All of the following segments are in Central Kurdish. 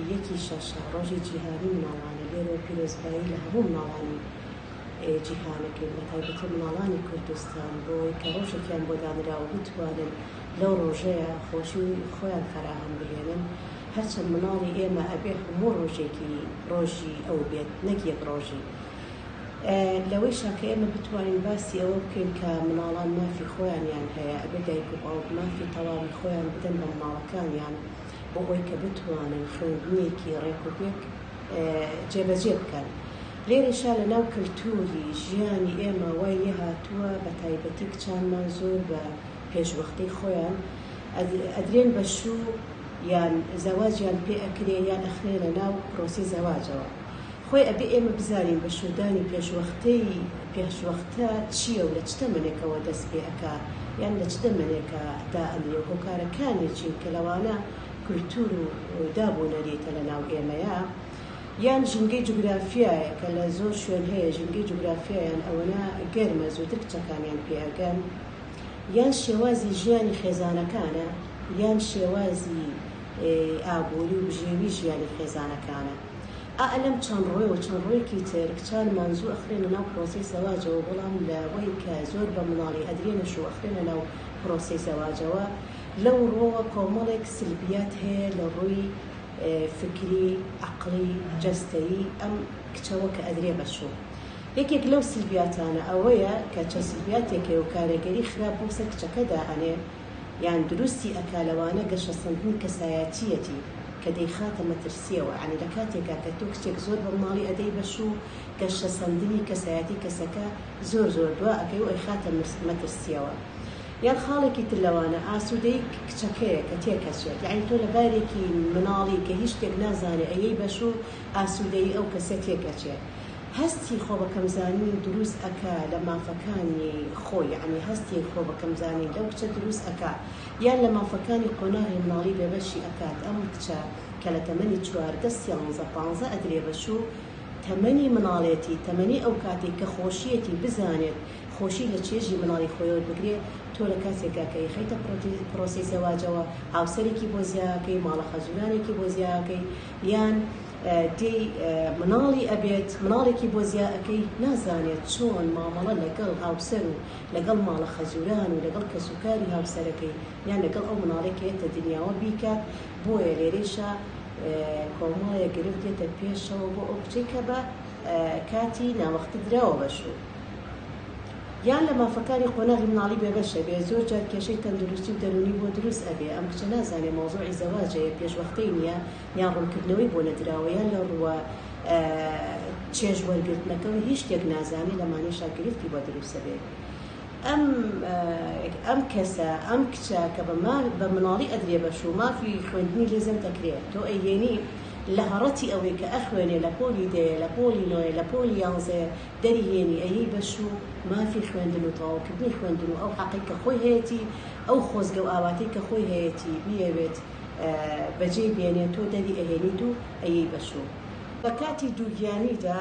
یەکی شەشە، ڕۆژی جیهانی مناڵانە، لێرەوە پیرۆزبایی لە هەموو مناڵانی جیهان ئەکەین، بە تایبەتی مناڵانی کوردستان بۆ ئەوەی کە ڕۆژێکیان بۆ دانراوە بتوانن لەو ڕۆژەیا خۆشی خۆیان فەراهەم بهێنن، هەرچەند مناڵی ئێمە ئەبێ هەموو ڕۆژێکی ڕۆژی ئەو بێت نەک یەک ڕۆژی. لەوەیشا کە ئێمە بتوانین باسی ئەوە بکەین کە مناڵان مافی خۆیانیان هەیە، ئەبێ دایک و باوک مافی تەواوی خۆیان بدەن بە مناڵەکانیان، بۆ ئەوەی کە بتوانن خوێندنیەکی ڕێک و پێک جێبەجێ بکەن. لێرەشا لە ناو کەلتووری ژیانی ئێمە وای لێ هاتووە بە تایبەتی کچانمان زۆر بە پێشوەختەی خۆیان ئەدرێن بە شوو یان زەواجیان پێ ئەکرێ یان ئەخرێنە ناو پرۆسەی زەواجەوە. خۆی ئەبێ ئێمە بزانین بەشوودانی پێشوەختەی پێشوەختە چییە و لە چ تەمەنێکەوە دەست پێ ئەکا یان لە چ دەمەنێکا دا ئەنرێ و هۆکارەکانی چین کە لەوانە کولتوور و داب و نەریتە لە ناو ئێمەیا یان ژینگەی جوگرافیایە کە لە زۆر شوێن هەیە ژینگەی جوگرافیایان ئەوەنە گەرمە زووتر کچەکانیان پێ ئەگەن یان شێوازی ژیانی خێزانەکانە یان شێوازی ئابووری و بژێوی ژیانی خێزانەکانە. ئا لەم چەند ڕۆێ و چەند ڕۆێکی تر کچانمان زوو ئەخرێنە ناو پرۆسەی زەواجەوە بەڵام لە وەی کە زۆر بە مناڵی ئەدرێنەش و ئەخرێنە ناو پرۆسەی زەواجەوە لەو ڕۆوە کۆمەڵێک سلبیات هەیە لە ڕووی فکری عەقڵی جەستەیی ئەم کچەوە کە ئەدرێ بە چوو یەکێک لەو سلبیاتانە ئەوەیە کە چەند سلبیاتێکەیە و کارێگەری خراپ بۆ سەر کچەکە دائەنێ یان دروستی ئەکا لەوانە گەشەسەندنی کەسایەتیەتی کە دەیخاتە مەترسیەوە یانی لە کاتێکا کە تۆ کچێک زۆر بە مناڵی ئەدەی بەشو گەشەسەندنی کەسایەتی کەسەکە زۆر زۆر دوا ئەکەی و ئەیخاتە مەترسیەوە یان خاڵێکی تر لەوانە ئاسودەی کچەکەیە کە تێکەچێت یانی تۆ لە بارێکی مناڵی کە هیچ شتێک نازانێ ئەیەی بەشو ئاسودەی ئەو کەسە تێکەچێ هەستی خۆ بە کەم زانین دروست ئەکا لە مافەکانی خۆی یەعنی هەستی خۆ بە کەم زانین لەو کچە دروست ئەکا یان لە مافەکانی قۆناغی مناڵی بێ بەشی ئەکات ئەم کچە کە لە تەمەنی چواردە سیانزە پانزە ئەدرێ بە شو تەمەنی مناڵێتی تەمەنی ئەو کاتەی کە خۆشیەتی بزانێت خۆشی لە چێژی مناڵی خۆی وەر بگرێ تۆ لە کاتێکا کە یخەیتە پرۆسەی زەواجەوە هاوسەرێکی بۆ زیا ئەکەی ماڵە خەزورانێکی بۆ زیا ئەکەی یان دێی مناڵی ئەبێت مناڵێکی بۆ زیا ئەکەی نازانێت چۆن مامەڵە لەگەڵ هاوسەر و لەگەڵ ماڵە خەزوران و لەگەڵ کەسوکاری هاوسەرەکەی یان لەگەڵ ئەو مناڵەی کە یەتە دنیاوە بیکات بۆیە لێرەیشا کۆمەڵێ گرفت دێتە پێشەوە بۆ ئەو کچەی کە بە کاتی ناوەختی دراوە بە شوو. یان لە مافەکانی قۆناغی مناڵی بێبەش ئەبێ زۆر جار کێشەی تەندروستی و دەرونی بۆ دروست ئەبێ ئەم کچە نازانێ مەوزوعی زەواجە یە پێش وەختەی نیە یان ڕونکردنەوەی بۆ نەدراوە یان لە ڕووە چێژ وەرگرتنەکەوە هیچ شتێک نازانێ لەمانەشا گرفتی بۆ دروست ئەبێ ئەم ئەم کەسە ئەم کچە کە بە مال بە مناڵی ئەدرێ بەش و مافی خوێندنی لێ زەند دەکرێ تۆ ئەیهێنی لە هەڕەتی ئەوەی کە ئەخوێنێ لە پۆلی دەیە لە پۆلی نۆیە لە پۆلی یانزەیە دەری هێنی ئەیی بەشو مافی خوێندن و تەواو کردنی خوێندن و ئەو حەقەی کە خۆی هەیەتی ئەو خۆزگە و ئاواتەی کە خۆی هەیەتی بیەوێت بەجێی بێنێت تۆ دەری ئەهێنیت و ئەیی بەشو لە کاتی دووگیانیدا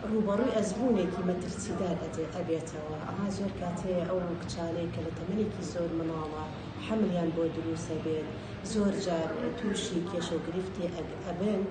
ڕووبەڕووی ئەزموونێکی مەترسیدار ئەبێتەوە ئەها زۆر کات هەیە ئەو کچانەی کە لە تەمەنێکی زۆر منداڵە حەملیان بۆ دروست ئەبێت زۆر جار تووشی کێشەو گرفتی ئەبن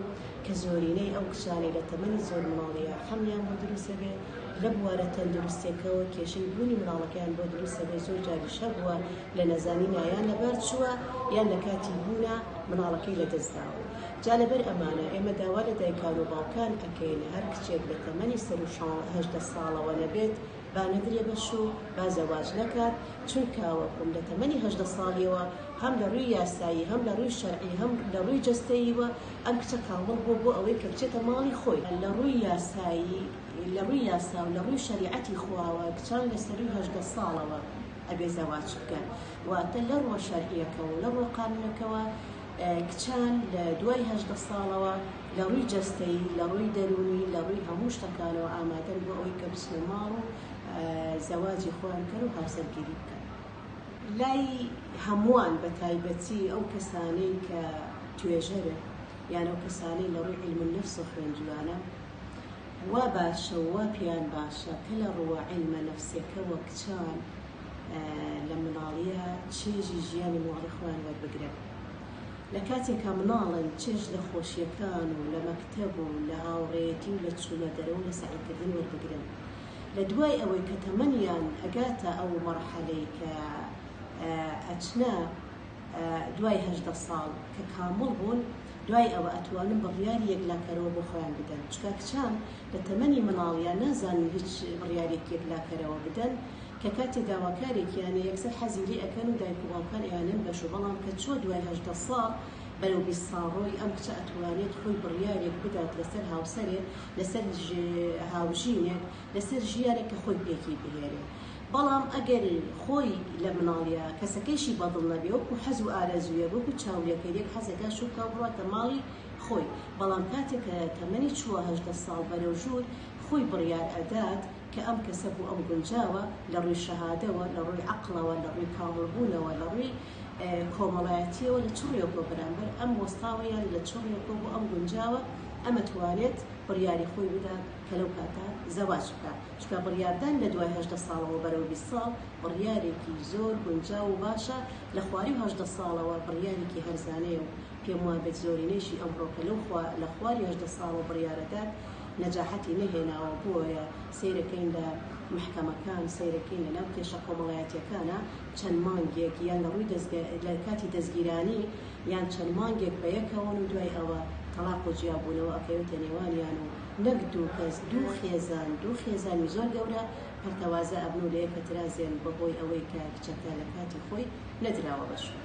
کە زۆرینەی ئەو کچانەی لە تەمەنی زۆر منداڵییە حەملیان بۆ دروست دەبێت، لە بوارە تەندروستییەکەوە کێشەی بوونی منداڵەکەیان بۆ دروست دەبێت، زۆر جاریش هەبووە لە نەزانینا یان لەبار چووە یان لە کاتی بوونا منداڵەکەی لە دەست داوە، جا لەبەر ئەمانە ئێمە داوا لە دایکان و باوکان ئەکەین هەر کچێک لە تەمەنی سەروو هەژدە ساڵەوە نەبێت، با نەدرێ بە شوو، با زەواج نەکات، چونکە وەکوم لە تەمەنی هەژدە ساڵییەوە هەم لە رووی یاسایی، هەم لە رووی شەرعی، هەم لە رووی جەستەییوە ئەم کچە کامڵ بووە بۆ ئەوەی کە بچێتە ماڵی خۆی. لە رووی یاسایی، لە رووی یاسا و لە رووی شەریعەتی خواوە کچان لە سەرووی هەژدە ساڵەوە ئەبێ زەواج بکەن. واتە لە رووە شەرعییەکەوە و لە رووە قانوونەکەوە کچان لە دوای هەژدە ساڵەوە، لە ڕووی جەستەیی، لە ڕووی دەروونی، لە ڕووی هەموو شتەکانەوە ئامادەن بۆ ئەوەی کە بچنە ماڵ و زەواجی خۆیان بکەن و هاوسەرگیری بکەن. لای هەمووان بە تایبەتی ئەو کەسانەی کە توێژەرن یان ئەو کەسانەی لە ڕووی عیلم النفس و خوێندویانە وا باشە و وا پێیان باشە کە لە ڕووە عیلمە نەفسیەکەوە کچان لە مناڵیە چێژی ژیانی ماڵی خۆیان وەربگرن. لە کاتێکا مناڵن چێژ لە خۆشیەکان و لە مەکتەب و لە هاوڕێیەتی و لە چوونە دەرە و لە سەعیکردن وەربگرن لە دوای ئەوەی کە تەمەنیان ئەگاتە ئەو مەرحەلەی کە ئەچنە دوای هەژدە ساڵ کە کامڵ بوون دوای ئەوە ئەتوانن بڕیاری یەکلاکەرەوە بۆ خۆیان بدەن چکا کچان لە تەمەنی مناڵیان نازانن هیچ بڕیارێک یەکلاکەرەوە بدەن کە کاتێ داواکارێکیانە یەکسەر حەزی لێ ئەکەن و دایک و باوکان ئەیانەن بەشو بەڵام کە چوە دوای هەژدە ساڵ بەرەو بیست ساڵڕۆی ئەم کچە ئەتوانێت خۆی بڕیارێک بدات لەسەر هاوسەرێک لەسەر هاوژینێک لەسەر ژیانێک کە خۆی پێکی بهێنێ بەڵام ئەگەر خۆی لە مناڵیا کەسەکەیشی بەدڵ نەبێ وەکو حەز و ئارەزویە وەکو چاولێکەر یەک حەزەکە شوکاو بڕاتە ماڵی خۆی بەڵام کاتێک کە تەمەنی چوە هەژدە ساڵ بەرەو ژور خۆی بڕیار ئەدات کە ئەم کەسە بوو ئەم گونجاوە لە ڕووی شەهادەوە لە ڕووی عەقڵەوە لە ڕووی کامڵبوونەوە لە ڕووی کۆمەڵایەتیەوە لە چ ڕوویەک بۆ بەرامبەر ئەم وەستاوە یان لە چ ڕوویەک بۆ ئەم گونجاوە ئەمە توانێت بڕیاری خۆی بدا کە لەو کاتە زەواج بکە چکە بڕیاردان لە دوای هەژدە ساڵەوە بەرەو بیست ساڵ بڕیارێکی زۆر گونجاو و باشە لە خواری و هەژدە ساڵەوە بڕیارێکی هەرزانەیە و پێم وابێت زۆرینەیشی ئەمڕۆکە لەو لە خواری هەژدە ساڵەوە بڕیارەدات نەجاحەتی نەهێناوە بۆیە سەیرەکەین لە مەحکەمەکان سەیرەکەین لەناو کێشە کۆمەڵایەتیەکانا چەند مانگێک یان لە ڕووی دەزگا لە کاتی دەزگیرانی یان چەند مانگێک بە یەکەوەن و دوای ئەوە تەڵاق و جیا بوونەوە ئەکەوێتە نێوانیان و نەک دوو کەس دوو خێزان دوو خێزانی زۆر گەورە پەرتەوازە ئەبن و لە یەک ئەترازێن بە هۆی ئەوەی کە کچەکە لە کاتی خۆی نەدراوە بە شوێن.